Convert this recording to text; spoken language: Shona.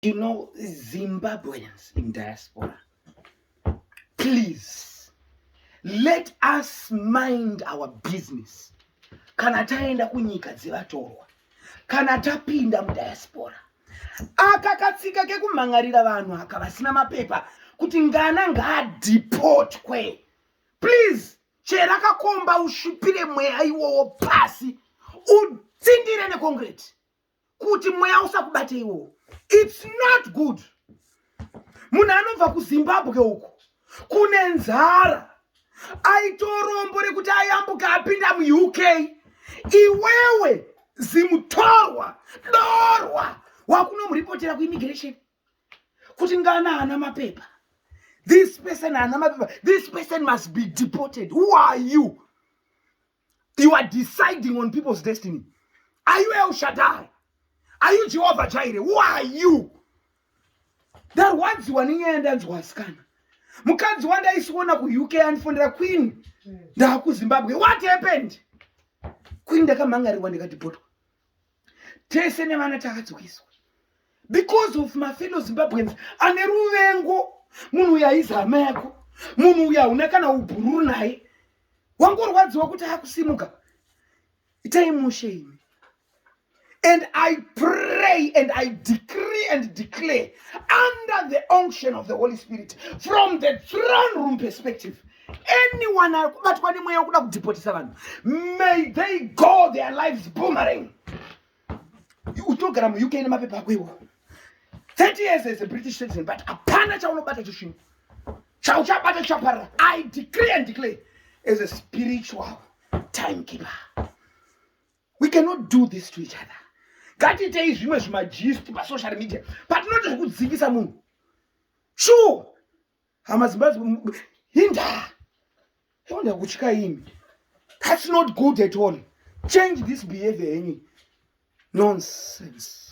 you know Zimbabweans in diaspora, please let us mind our business. Kana taenda kunyika dzevatorwa, kana tapinda mudiaspora, aka katsika kekumhan'arira vanhu aka vasina mapepa kuti ngana ngaadhipotwe, please chera kakomba usvipire mweya iwowo pasi utsindire nekongreti. kuti mweya usakubate iwowo its not good munhu anobva kuzimbabwe uko kune nzara aitorombo rekuti ayambuka apinda muuk iwewe zimutorwa dorwa wakunomuripotera kuimmigration kuti ngana ana mapepa this person ana mapepa this person must be deported who are you you are deciding on people's destiny are you el shaddai are you jehovha jaire who are you ndarwadziwa nenyaya ndanzwa asikana mukadzi wandaisiona kuuk andifonera queen ndaakuzimbabwe what happened queen ndakamhangarirwa ndikatibhotwa tese nevana takadzokiswa because of mafellow zimbabweans ane ruvengo munhu uyo aizi hama yako munhu uyo hauna kana ubhururu naye wangorwadziwa kuti akusimuka itai mushe imi and i pray and i decree and declare under the unction of the holy spirit from the throne room perspective anyone akubatwa nemweya wekuda kudhipotisa vanhu may they go their lives boomerang uchinogara muuk nemapepa ako iwo 30 years as a british citizen but hapana chaunobata chisvino chauchabata chaparira i decree and declare as a spiritual timekeeper we cannot do this to each other ngatiitei zvimwe zvimajist pasocial media patinoti zvekudzingisa munhu sure hama zibazi hinda honda kutya imi that's not good at all change this behavior yenyu nonsense